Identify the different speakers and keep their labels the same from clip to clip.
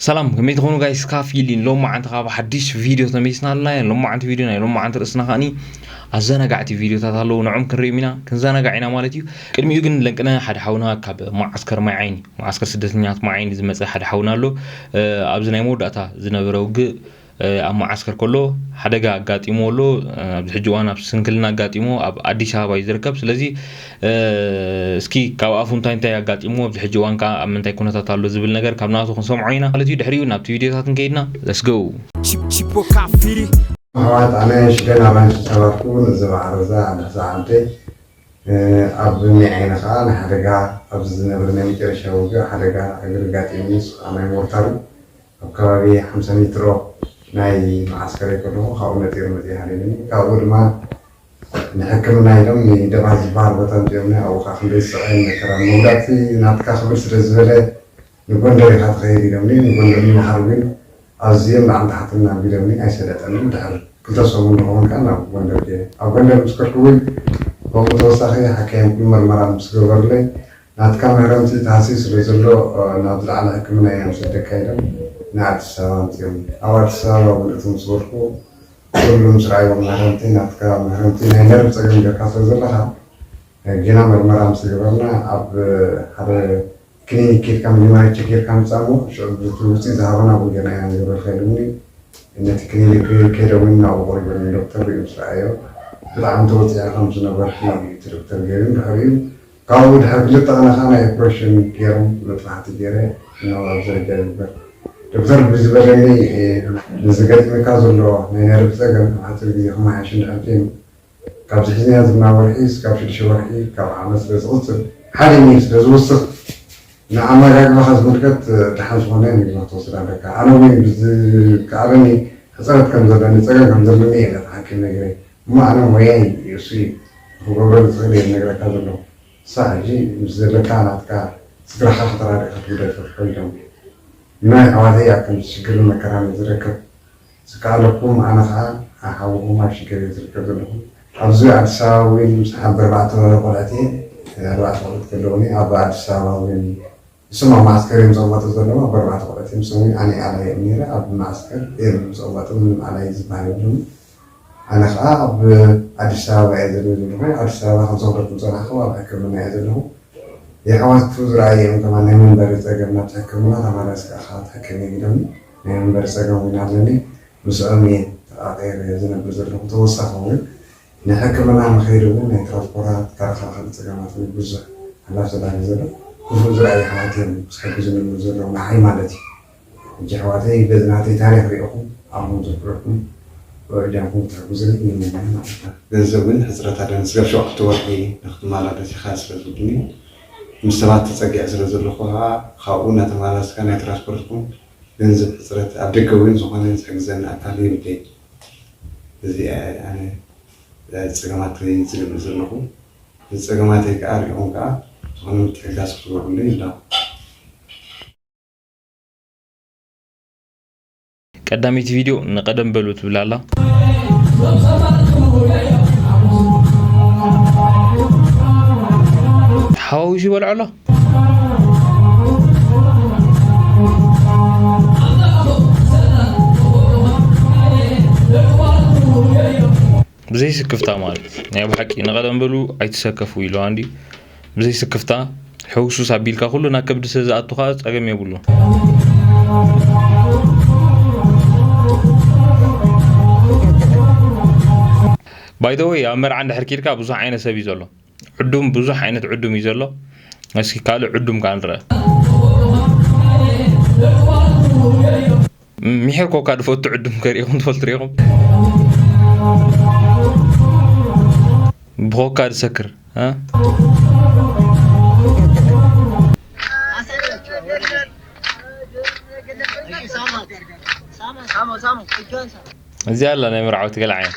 Speaker 1: ሰላም ከመይ ትኾኑ ጋይስ ካፍ ኢሊን ሎማዓንቲ ካብ ሓዲሽ ቪድዮ ተመሊስና ኣለና ኢና ሎማዓንቲ ቪድዮ ናይ ሎማዓንቲ ርእስና ከኣኒ ኣዘናጋዕቲ ቪድዮታት ኣለዉ ንዕም ክንሪኦም ኢና ክንዘናጋዕ ኢና ማለት እዩ ቅድሚኡ ግን ለንቅነ ሓደ ሓውና ካብ መዓስከር ማይ ዓይኒ መዓስከር ስደተኛት ማይ ዓይኒ ዝመፀ ሓደ ሓውና ኣሎ ኣብዚ ናይ መወዳእታ ዝነበረ ውግእ ኣብ መዓስከር ከሎ ሓደጋ ኣጋጢምዎ ኣሎ። ኣብዚ ሕጂ እዋን ኣብ ስንክልና ኣጋጢምዎ ኣብ ኣዲስ ኣበባ እዩ ዝርከብ። ስለዚ እስኪ ካብ ኣፉ እንታይ እንታይ ኣጋጢምዎ ኣብዚ ሕጂ እዋን ከዓ ኣብ ምንታይ ኩነታት ኣሎ ዝብል ነገር ካብ ናቱ ክንሰምዖ ኢና ማለት እዩ። ድሕሪኡ ናብቲ ቪድዮታት እንከይድና ለስ ጎ ኣሕዋት ኣነ ሽደን ኣራንሺ ዝጸባብኩ ነዚ መዓረዛ ኣንዳሕሳ ዓምተይ
Speaker 2: ኣብ እኒ ዓይኒ ከዓ ናይ ሓደጋ ኣብዚ ዝነብር ናይ መጨረሻ ውግእ ሓደጋ እግሪ ኣጋጢምኒ ንሱ ከዓ ናይ ሞርታሩ ኣብ ከባቢ ሓምሳ ሜትሮ ናይ መዓስከረይ ከለኹ ካብኡ ነጢሩ መጺኡ ሃዲሙኒ። ካብኡ ድማ ንሕክምና ኢሎም ንይደባ ዝበሃል ቦታ ኣምጺኦምኒ። ኣብኡ ከኣ ክንደይ ስቓይን መከራን። መጉዳእቲ ናትካ ክብድ ስለ ዝበለ ንጎንደር ኢኻ ትኸይድ ኢሎምኒ። ንጎንደር ንምኻድ ግን ኣዝዮም ላዕልን ታሕትን ኣቢሎምኒ። ኣይሰለጠንን። ድሕሪ ክልተ ሰሙን ዝኸውን ከኣ ናብ ጎንደር ከይደ። ኣብ ጎንደር ምስ ከድኩ ግን ከምኡ ተወሳኺ ሓካይም ኩሉ መርመራ ምስ ገበሩለይ፣ ናትካ መህረምቲ ተሃስዩ ስለ ዘሎ ናብ ዝለዓለ ሕክምና እያ ምሰደካ ኢሎም ንኣዲስ ኣበባ ኣምጺኦም ኣብ ኣዲስ ኣበባ ውን እቶም ዝወድቁ ኩሉ ምስ ረኣይዎም መህረምቲ ናትካ መህረምቲ ናይ ነርቭ ጸገም ገርካ ስለ ዘለኻ ጌና መርመራ ምስ ገበርና ኣብ ሓደ ክሊኒክ ኬድካ መጀመርያ ቸክ ገርካ ምጻእ እሞ ሽዑ ብቲ ውጺት ዝሃቡና ውን ጌና ኢና ንገብረልካ ኢሎምኒ ነቲ ክሊኒክ ኬደውን ናብኡ ቀሪቦም ዶክተር ሪኡ ምስ ረኣዮ ብጣዕሚ ተወጺዕኺ ከም ዝነበርኪ እዩ እቲ ዶክተር ገሪም ድሕሪኡ ካብኡ ድሕሪ ክልተ ቅነ ከኣ ናይ ኦፕረሽን ጌሮም መጥባሕቲ ጌረ ሕነ ኣብ ዝርጃ ይግበር ዶክተር ብዝበለኒ ንዝገጥመካ ዘሎ ናይ ነርቭ ጸገም ኣብ ሓጺር ግዜ ክመሓየሽ እንድሕር ኬኑ ካብዚ ሒዝናዮ ዘለና ወርሒ ስጋብ ሽዱሽተ ወርሒ ካብ ዓመት ስለ ዝቅጽል ሓደ ሚል ስለ ዝውስኽ ንኣመጋግባኻ ዝምልከት ድሓን ዝኾነ ምግቢ ክትወስድ ኣለካ ኣነ ውን ብዝከኣለኒ ሕጽረት ከም ዘለኒ ጸገም ከም ዘለኒ እየ ነቲ ሓኪም ነጊረይ ማዕረ ሞያይ እዩ እሱ እዩ ንክገብሮ ዝክእል እየ ዝነግረካ ዘለኩ ክሳዕ ሕጂ ምስ ዘለካ ናትካ ስድራካ ከተራድእ ከትግደድ ፍርሑ ኢሎም ንናይ ኣሕዋተይ ኣብ ከምዚ ሽግርን መከራን እየ ዝረከብ ዝካኣለኩም ኣነ ካኣ ኣብ ሓውኩም ኣብ ሽገር እየ ዝርከብ ዘለኩ ኣብዚ ኣዲስ ኣበባ ዊን ምስ ሓብርባዕተ ቆልዕት እየ ኣርባዕተ ቆልዕት ከለውኒ ኣብ ኣዲስ ኣበባ ዊን ንሶም ኣብ መዓስከር እዮም ዝቕመጡ ዘለዉ፣ ኣብ በርባዕተ ቁዐት እዮም ዝሰንዩ፣ ኣነ እየ ኣላዪ ኦም ነይረ፣ ኣብ መዓስከር እዮም ዝቕመጡ፣ ምንም ኣላዪ ዝበሃል የሎምን፣ ኣነ ከኣ ኣብ ኣዲስ ኣበባ እየ ዘሎይ ዘለኹ፣ ኣዲስ ኣበባ ከም ዝኸደኩም ዝረኣኹ ኣብ ሕክምና እየ ዘለኹ፣ የሕዋቱ ዝረኣዩ እዮም ከማን ናይ መንበሪ ጸገም ናብቲ ሕክምና ተማላስ ከኣ ከኣ ትሕከም እዮም ኢሎምኒ፣ ናይ መንበሪ ጸገም ውን ኣለኒ፣ ምስኦም እየ ተቓቒረ ዝነብር ዘለኹ፣ ተወሳኺ ውን ናይ ሕክምና ንኸይዲ እውን ናይ ትራንስፖራት ከረኻኸሊ ፀገማት እውን ብዙሕ ሓላፍ ተዳርጊ ዘሎ ክፉእ ዝረኣዩ የሕዋት እዮም ዝሕግዙ ንብሉ ዘለዉ ንዓይ ማለት እዩ ሕጂ የሕዋተይ በዚ ናተይ ታሪኽ ሪእኹም ኣእምሮ ዘፍረኩም በብእጃምኩም ክትሕግዙኒ ይምነ ማለት እዩ። ገንዘብ እውን ሕፅረት ኣለ ንስጋብ ሸውዓተ ወርሒ ንክትማላለስ ኢኻ ስለ ዝብሉኒ ምስ ሰባት ተፀጊዐ ስለ ዘለኹ ኸዓ ኻብኡ ናተማላለስካ ናይ ትራንስፖርት ይኹን ገንዘብ ሕፅረት ኣብ ደገ እውን ዝኾነ ዝሕግዘኒ ኣካል የብለይን። እዚኣ እያ ኣነ ጸገማተይ ዝገልጽ ዘለኹ። ንጸገማተይ ከኣ ርኢኹም ከኣ ዝኾነ ምትሕግጋዝ ክትገብሩለይ ንደሊ።
Speaker 1: ቀዳመይቲ ቪድዮ ንቀደም በሉ ትብል ኣላ። ተሓዋዊሱ ይበልዖ ኣሎ። ብዘይ ስክፍታ ማለት ናይ ብሓቂ ንቐደም በሉ ኣይትሰከፉ ኢሉ ኣንዲ ብዘይ ስክፍታ ሕውሱስ ኣቢልካ ኩሉ ናብ ከብዲ ስለ ዝኣቱ ከዓ ፀገም የብሉ ባይደወይ ኣብ መርዓ እንድሕር ኪድካ ብዙሕ ዓይነት ሰብ እዩ ዘሎ ዕዱም ብዙሕ ዓይነት ዕዱም እዩ ዘሎ እስኪ ካልእ ዕዱም ከ ንረአ ሚሒር ኮካ ድፈቱ ዕዱም ከሪኢኹም ትፈልጡ ሪኢኹም ብኮካ ዝሰክር እዚኣ ኣላ ናይ መርዓውቲ ገለ ዓይነት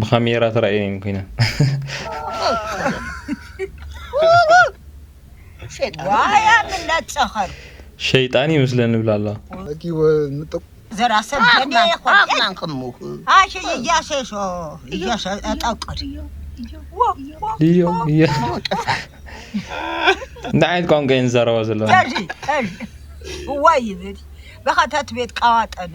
Speaker 1: ብካሜራ ተራእየን እየን ኮይነን
Speaker 3: ሸይጣን
Speaker 1: ይመስለን ንብላ ኣለዋ
Speaker 3: እንታይ
Speaker 1: ዓይነት ቋንቋ እየን ዝዛረባ ዘለዋ
Speaker 3: እዋይ ይብል ብኸተት ቤት ቃዋጠነ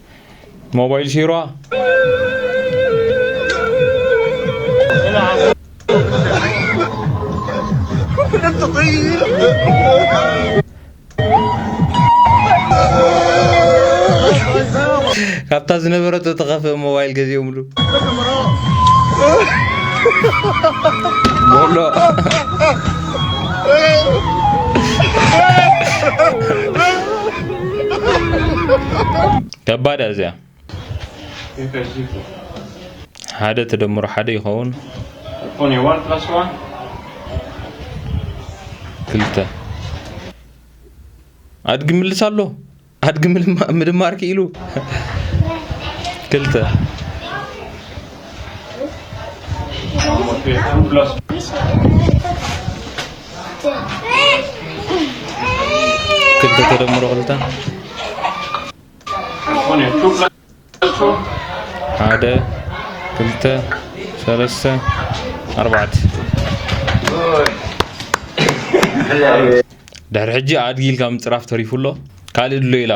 Speaker 1: ሞባይል ሺሯ ካብታ ዝነበረቶ ተኸፍእ ሞባይል ገዚኦምሉ ቦሎ ከባድ እያ እዚኣ ሓደ ተደምሮ ሓደ ይኸውን ክልተ ኣድጊ ምልስ ኣሎ ኣድጊ ምድማር ክኢሉ ክልተ ክልተ ተደምሮ ክልተ
Speaker 4: ሓደ
Speaker 1: ክልተ ሰለስተ ኣርባዕተ ድሕሪ ሕጂ ኣድጊ ኢልካ ምጽራፍ ተሪፉ ኣሎ ካልእ ድሎ ኢላ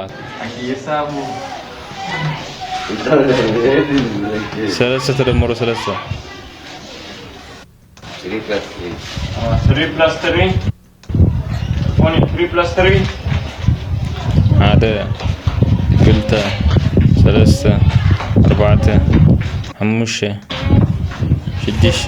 Speaker 1: ሰለስተ ተደመሮ
Speaker 4: ሰለስተ ሓደ
Speaker 1: ክልተ ሰለስተ ኣርባዕተ ሓሙሽተ ሽዱሽተ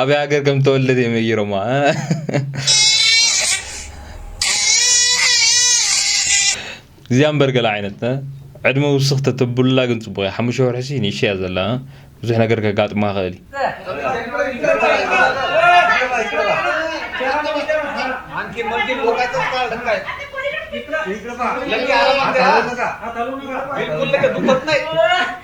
Speaker 1: ኣበይ ሃገር ከም ተወለደ እዮም ነጊሮማ እዚኣ እምበር ገለ ዓይነት ዕድመ ውስኽ ተተብሉላ ግን ፅቡቕ እያ ሓሙሽተ ወርሒ ሲ ንእሽተይ እያ ዘላ ብዙሕ ነገር ከጋጥማ ይኽእል እዩ